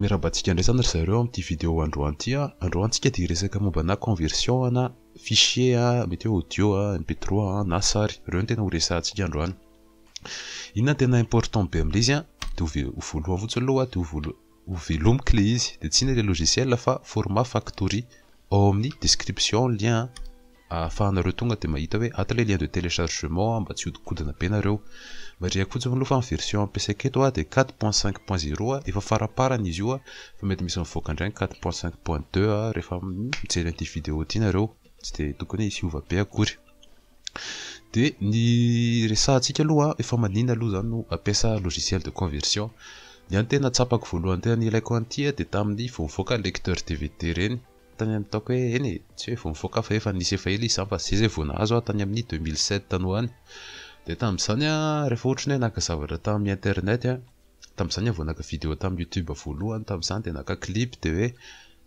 Miarabantsika indray zany ry zareo amin'ity vidéo androany ity an! Androany tsika dia hiresaka momba ana conversion ana fichier a, mety hoe audio a, MP trois a, na sary, ireo no tena ho resahantsika androany. Inona no tena important be amin'ilay izy an! Dia ho voalohany fotsiny aloha dia ho voalohany. ho velomiko le izy de tsina le logiciel fa format factory ao amin'ny description lien ahafahanareo tonga de mahita hoe ato le lien de telechargement mba tsy hodikodina be nareo marihako fotsiny aloha fa ny version ampiasaiko eto a de quatre point cinq point zero a efa faraparany izy io a fa mety misy mivoaka indray ny quatre point cinq point deux a rehefa mijery an'ity video ity nareo tsy de tokony hisy hiova be akory Dia ny resahantsika aloha, efa maninona aloha izany no ampiasa logiciel de conversion. Ny ahy ny tena tsapako voalohany tena nilaiko an'ity dia tamin'ny vao nivoaka ny lecteur dvd ireny. Tany amin'ny taoko hoe eny e, tsy hoe vao nivoaka fa efa nisy efa ela izy izany fa izay izay vao nahazo aho tany amin'ny 2007 tany ho any. Dia tamin'izany aho rehefa ohatra ny hoe naka zavatra tamin'ny internet, tamin'izany aho vao naka vidéo tamin'ny youtube voalohany tamin'izany dia naka clip dia hoe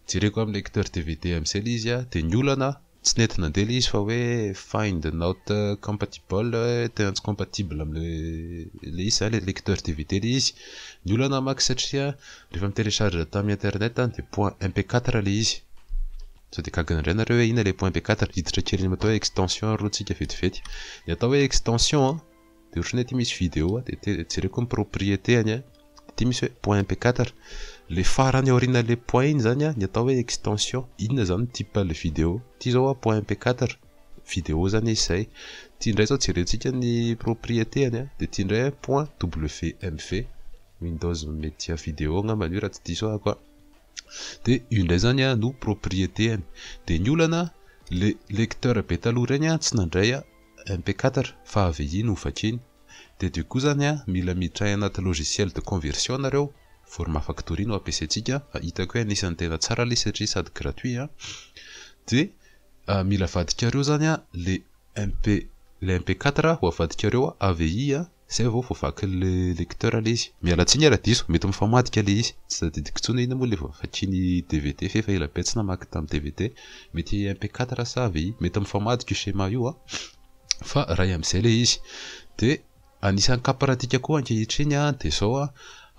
jereko amin'ny lecteur dvd amin'izay ilay izy dia ny olana, Tsy nety nandeha ilay izy fa hoe find not compatible tena tsy compatible amin'ilay ilay izy zany lecteur dvd ilay izy. Ny olana maka satria rehefa mi-telecharge tamin'ny internet any dia point mp quatre ilay izy. Sao dia gaga indray nareo hoe inona ilay point mp quatre? Hiditra kely amin'ny atao hoe extension ary rotsika vetivety. Ny atao hoe extension an! de otrany aty misy video a de jereko ny propriété any a de aty misy hoe point mp4 le farany aoriana le point iny zany a ny atao hoe extension inona zany ny type le video ty zao a point mp4 video zany izy zay ty ndray zao jerentsika ny propriété any a de ty ndray a point wmv windows media video angambany io raha tsy diso ahako a de io ndray zany a no propriété any de ny olana le lecteur be taloha regny a tsy nandray a MP4 fa avy aia no vakiany. Dia dia koa zany an, mila miditra any anaty logiciel de conversion nareo, format factory no ampiasaintsika fa hitako hoe anisan'ny tena tsara ilay satria sady gratuit an. Dia mila avadikareo zany an le MP, le MP4 ho avadikareo avy aia an. Zay vao voavakin'le lecteur le izy. Miala tsiny ara diso, mety mifamadika le izy. Tsy tadidiko tsony ina moa le vao vakiny dvd f'efa ela be tsy namaky tam dvd. Mety MP quatre sa AVI. Mety mifamadika io schéma io an. Fa ray amzay le izy. De anisan'ny cas pratique koa ankehitriny an de zao an,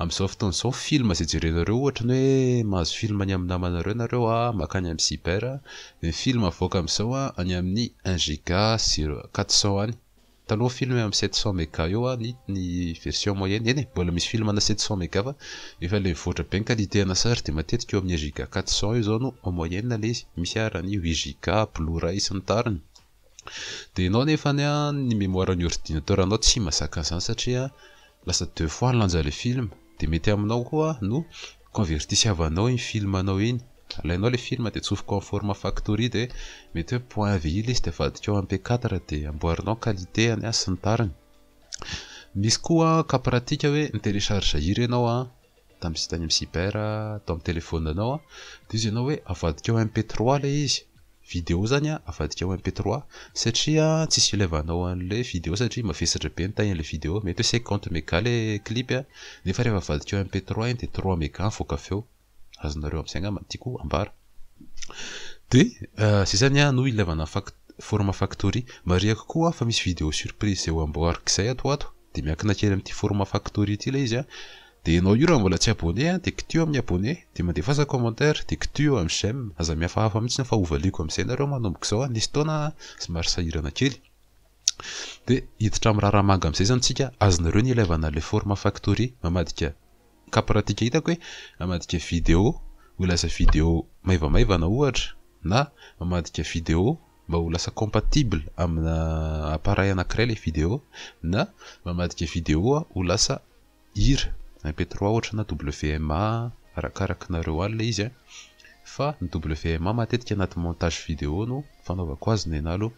amzao fotoana zao film zay jerenareo ohatra ny hoe mahazo film any amin'ny namanareo nareo an, makany amin'ny cyber, de ny film avoaka amzao an any amin'ny un giga sy quatre cent any. Taloha film eo amin'ny sept cent mega eo an ny ny version moyenne, eny e, mbola misy film ana sept cent mega fa efa ilay mivoatra be ny qualité ana sary dia matetika eo amin'ny un giga quatre cent eo izao no en moyenne ilay izy, misy ara ny huit giga, blue ray sy ny tariny. Dia ianao nefany an ny mémoire an'ny ordinateur anao tsy mahazaka an'izany satria lasa deux fois ny lanjan'ilay film, dia mety aminao koa no Convertisiavanao iny film anao iny. Alainao ilay film dia atsofoka en format factory dia mety hoe point avy ilay izy dia avadikao mp4 dia amboarinao ny qualitéany an sy ny tariny. Misy koa cas pratique hoe mi-telecharge hira ianao an, tam site any amin'ny cyber, atao amin'ny telephone anao an, dia izy ianao hoe avadikao mp3 ilay izy. video zany a avadika ao MP trois satria tsisy ilevanao anle video satria mavesatra be ny taille anle video mety hoe cinquante mega le clip a nefa rehefa avadika ao MP trois iny de trois mega mivoaka avy eo azonareo amzay angamba ny tiako ambara de zay zany a no ilevana fac- format factory marihako koa fa misy video surprise zay ho amboariko zay ato ho ato de miankina kely amty format factory ty le izy a Dia ianao io raha mbola tsy abonné an dia kitio amin'ny abonné, dia mandefaza commentaire, dia kitio amin'ny j'aime, aza mihafahafa mihitsy an fa hovaliako amin'izay nareo manomboka izao an nisy fotoana an somary sahirana kely dia hiditra amin'ny raharaha manga amin'izay izany tsika, azonareo ny ilaivana an'ilay forme factory mamadika cas pratique hitako hoe mamadika video ho lasa video maivamaivana ohatra na mamadika video mba ho lasa compatible amina appareil anakiray ilay video na mamadika video ho lasa Ir, MP trois ohatra na WMA arakaraky nareo ao ilay izy a! Fa ny WMA matetika anaty montage vidéo no fanaovako azy nenah aloha.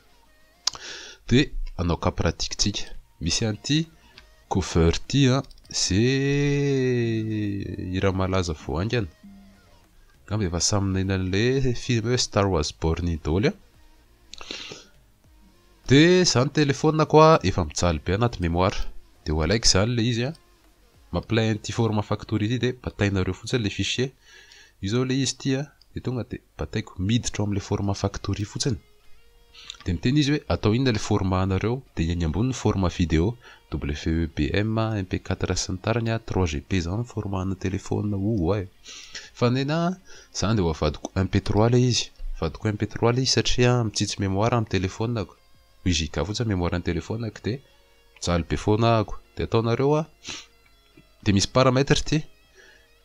Dia hanao cas pratique tsika. Misy an'ity cover ity a! Ze hira malaza vao haingana. Angamba efa samy naheno an'ilay film hoe Star was born in Doly a! Dia zany téléphone ko ah efa mijaly be anaty mémoire dia ho alaiky zany ilay izy an! Mampilay an'ity format factory ity dia batainareo fotsiny ilay fichier, io zao ilay izy ity an! Dia tonga dia bataiko miditra ao amin'ilay format factory fotsiny, dia miteny izy hoe atao inona ilay format anareo, dia eny ambony ny format video, WEBM, MP4 sy ny tariny an! 3GP izany ny format ana téléphone, ouai! Fa nena a, zany dia ho avadiko un petrol ilay izy. Avadiko un petrol ilay izy satria mitsitsy mémoire amin'ny téléphone-ko. Huit giga fotsiny ny mémoire-n'ny téléphone-ko dia mijaly be foana ahako. Dia ataonareo a, dia misy paramètre ity.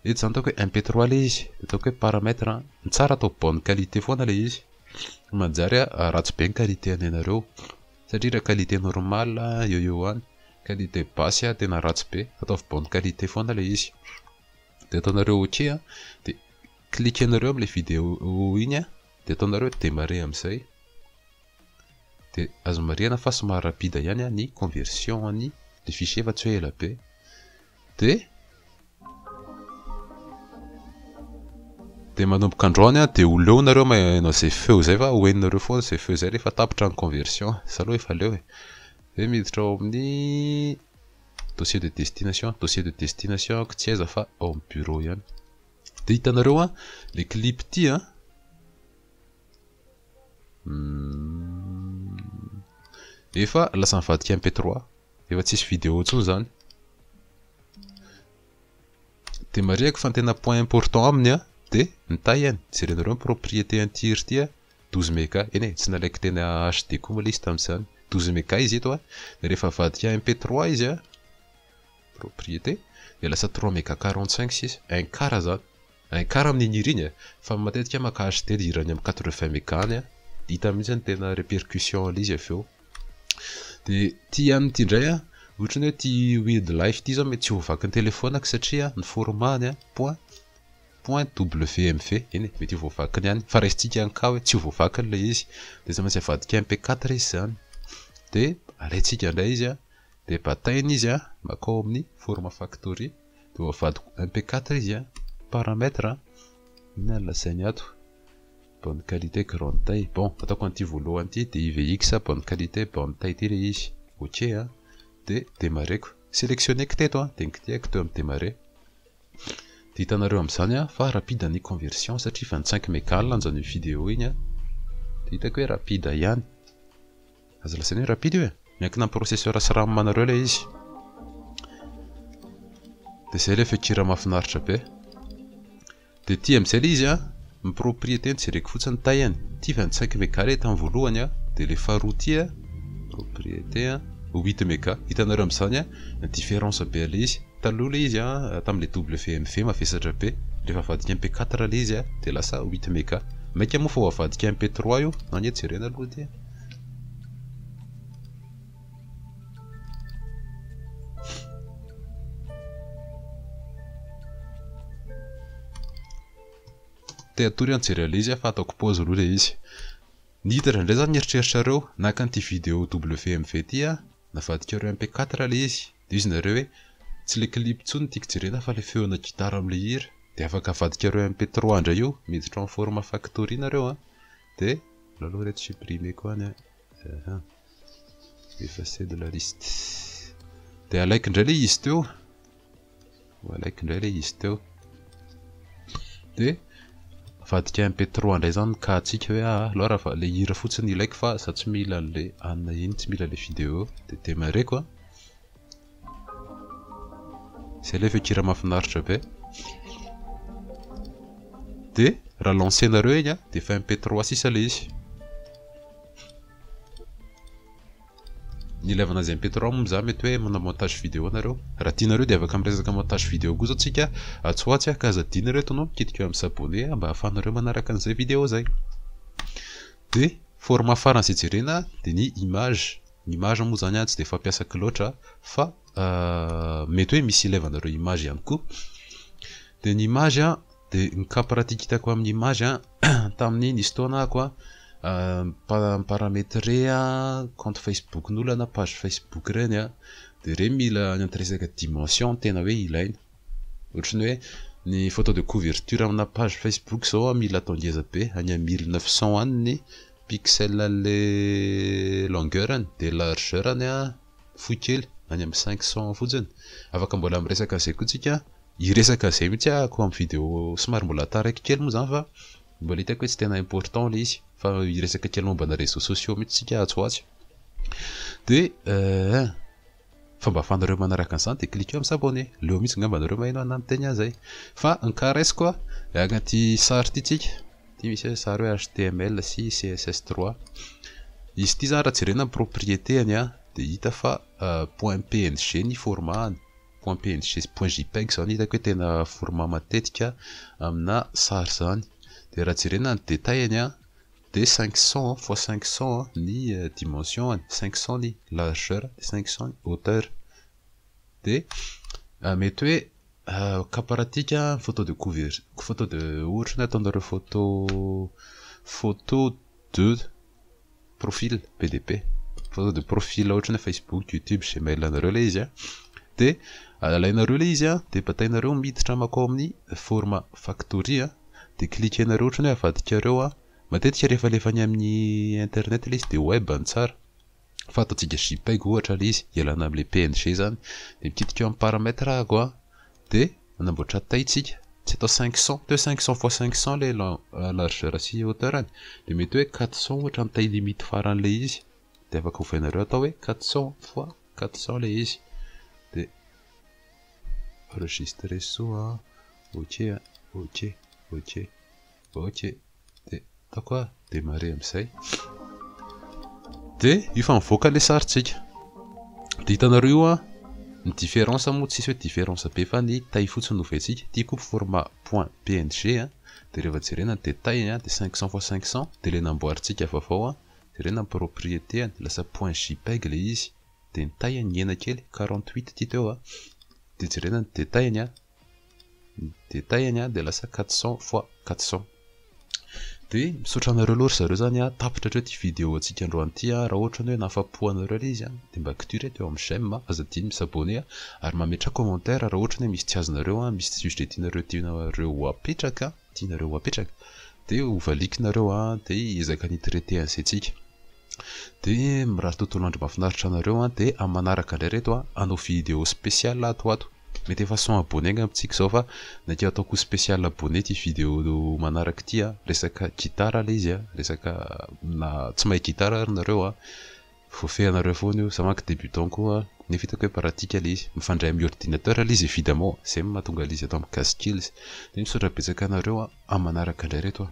Eto izany ataoko hoe un petrol ilay izy. Dia ataoko hoe paramètre. Ny tsara atao bonne qualité foana ilay izy. Fa manjary a, ratsy be ny qualité anenareo. Satria raha qualité normal, eo ho eo any. Qualité basse tena ratsy be. Ataovy bonne qualité foana ilay izy. Dia ataonareo ok a, dia cliquenareo amin'ilay vidéo iny a, dia ataonareo demarrer amin'izay. Dia azo marihana fa somary rapide ihany ny conversion an'ny le fichier fa tsy hoe ela be. Dia dia manomboka andro any dia ho leo nareo manao izay feo izay fa ho henonareo foana izay feo izay rehefa tapitra ny conversion. Za aloha efa leo e. Dia miditra ao amin'ny Dossier de destination, dossier de destination ko tsy aiza fa ao amin'ny bureau ihany. Dia hitanareo an, le clip ity an. Hmm. Efa lasa nivadika MP3, efa tsisy vidéo intsony zany. Dia marihako fa ny tena point important aminy an, dia ny taillany, jerenareo ny propriété interieur ity an, Douze mega, eny e, tsy nalaiko teny HD koa moa ilay izy tamin'izany. Douze mega izy eto a, dia rehefa avadika MP trois izy a, propriété, dia lasa trois mega quarante cinq sisa, un quart izany. Un quart amin'iny hira iny e, fa ny matetika maka HD ny hira any amin'ny quatre vingt mega any a, dia hita mihitsy ny tena répercussion an'ilay izy avy eo. Dia ity amin'ity indray a, ohatra ny hoe ity Weird Life ity izao mety tsy ho vakin'ny telefaoniko satria ny format-ny a, point. Point WMV, eny e, mety ho voavakiny ihany, fa raisintsika ny cas hoe tsy ho voavakiny ilay izy, dia tsy maintsy avadika MP quatre izy izany, dia alaintsika indray izy an, dia bataina izy an, makao amin'ny forme factory, dia ho avadiko MP quatre izy an, paramètre an, inona no lazainy ato, bonne qualité grande taille, bon, ataoko an'ity voalohany ity, DIVX bonne qualité bonne taille ity ilay izy, ok an, dia demarrer-ko, selectionner-ko teto an, dia kitihiko teo amin'ny demarrer. Dia hitanareo amin'izany a fa rapide ny conversion satria efa nitsainky megala anjao an'iny video iny a. Dia hitako hoe rapide ihany. Aza lazaina hoe rapide io e. Miankina amin'ny processeur sy ram anareo ilay izy. Dia izay ilay feon-kira mahafinaritra be. Dia ity amin'izay ilay izy a. Ny propriété no jereko fotsiny taihany, ity efa nitsainky mega le tany voalohany a, de le faharoa ty a, propriété a, huit mega, hitanareo amzany a, différence be le izy, taloha le izy a, tam le WMV mavesatra be, refa avadika MP quatre le izy a, de lasa huit mega, maika moa fa ho avadika MP trois io, anie jerena aloha ty a. Te hatory an jery anle izy a fa ataoko pause aloha le izy. Niditra indray za mieritreritrareo naka an'ity video WMV ty a, navadikareo MP quatre le izy, de hoy izy nareo hoe tsy le clip intsony no tiako jerena fa le feona gitara amle hira, de afaka avadikareo MP trois indray io, miditra en format factory nareo a, de aleo aloha reto supprimer ko any a. Ahaa. Effacer de la liste. Dia alaiky indray ilay izy teo. Ho alaiky indray ilay izy teo. Dia avadika MP3 indray izany ny cas-ntsika hoe aah, aleo raha ilay hira fotsiny ilaiko fa izaho tsy mila an'ilay anona iny, tsy mila ilay vidéo. Dia demarrer-ko. Zay ilay feon-kira mahafinaritra be. Dia raha lancer-nareo iny dia efa MP trois sisa ilay izy. Ny ilaivana azy MP trois moa izaho mety hoe manao montage vidéo nareo. Raha tianareo dia afaka miresaka montage vidéo koa izao tsika atsy ho atsy ka aza adino ireto no kitikeo amin'ny s'abonner mba ahafahanareo manaraka an'izay vidéo izay. Hoe format farany izay jerena dia ny image, ny image moa izany tsy dia fampiasako loatra fa mety hoe misy ilevana ireo image ihany koa, dia ny image an dia ny cas pratique hitako amin'ny image an tamin'ny nisy fotoana aho koa mi-parametre compte facebook-n'olona na page facebook ireny an, dia ireny mila any amin'ny resaka dimension no tena hoe ilaina. Ohatran'ny hoe ny photo de couverture amina page Facebook zao an mila atao ngeza be, any am mille neuf cents any ny pixel anle longueur-ny, de largeur-ny an fohy kely any am cinq cents fotsiny. Afaka mbola miresaka an'izay koa tsika an, hiresaka an'izay mihitsy ahako am video somary mbola taraiky kely moa zany fa mbola hitako hoe tsy tena important le izy fa hiresaka kely momba ana reseaux sociaux mihitsy tsika atsy ho atsy. De eh. Fomba ahafahanareo manaraka an'izany dia cliquer amin'ny s'abonner. Leo mihitsy angamba nareo maheno an'ahy miteny azy zay. Fa nkaresiko hiaka ity sary ity tsika. Ity misy hoe sary hoe html sy css trois. Izy ity zany raha jerena ny propriété-any dia hita fa point png ny format-any. Point png sy point jpeg izao no hitako hoe tena format matetika amina sary izany. Dia raha jerena ny détail-any. Dia cinq cents fois cinq cents ny dimension-ny, cinq cents ny largeur dia cinq cents ny hauteur. Dia mety hoe cas pratique ny photo de couverture, photo de ohatra hoe ataonareo photo photo de profil be dia be, photo de profil ohatra hoe facebook, youtube, gmail anareo ilay izy dia alainareo ilay izy dia batainareo miditra mankao amin'ny format factory. de cliquenareo otrany hoe avadikareo a, matetika rehefa alefa any amin'ny internet le izy de web no tsara, fa ataontsika jpeg ohatra le izy ialana amle png zany, de mikitika eo amin'ny paramètre ako a, de anamboatra taille tsika, tsy atao cinq cents, mety hoe cinq cents fois cinq cents le largeur sy hauteurny, de mety hoe quatre cents ohatra ny taille limite faranle izy, de afaka ovainareo atao hoe quatre cents fois quatre cents le izy. Enregistre so a. Ok a. Ok. Ok. Ok. Dia ataoko a. Demarrer amin'izay. Dia efa mivoaka ilay sarintsika. Dia hitanareo io a. Ny différence moa tsisy hoe différence be fa ny taille fotsiny no ovaintsika. Ity koa format point png a. Dia rehefa jerena ny détail a dia cinq cents fois cinq cents dia ilay namboarintsika vaovao a. Jerena ny propriété a. Lasa point jpeg ilay izy. dia nitaiha nihena kely quarante huit ty teo a, dia jerena ny detail-ny a, ny detail-ny a dia lasa quatre cents fois quatre cents. Dia misaotra anareo aloha ry zareo zany a, tapitra hatreo ty vidéo antsika androany ty a, raha ohatra ny hoe nahafapo anareo le izy a dia mba kitiry eto eo amin'ny j'aime a, aza adino mi-s'abonner a, ary mametraha commentaire raha ohatra ny hoe misy tsy azonareo a, misy sujet tianareo tianareo ho apetraka. tianareo ho apetraka dia ho valiako nareo a dia hiezaka ny traiter an'izay tsika dia mirary tontolo andro mafinaritra anareo a dia amin'ny manaraka indray reto a hanao video special ato ato mety efa cent abonne angamba tsika izao fa naikeo ataoko special abonne ity video manaraka ity a resaka guitare ilay izy a resaka na tsy mahay guitare ary nareo a Voafehinareo foana io, za manko débutant koa nefa hitako hoe pratique le izy, mifandray amin'ny ordinateur le izy évidemment, zay no mahatonga le izy ato amin'ny Gasyskills, de misaotra betsaka anareo an, amin'ny manaraka indray reto an.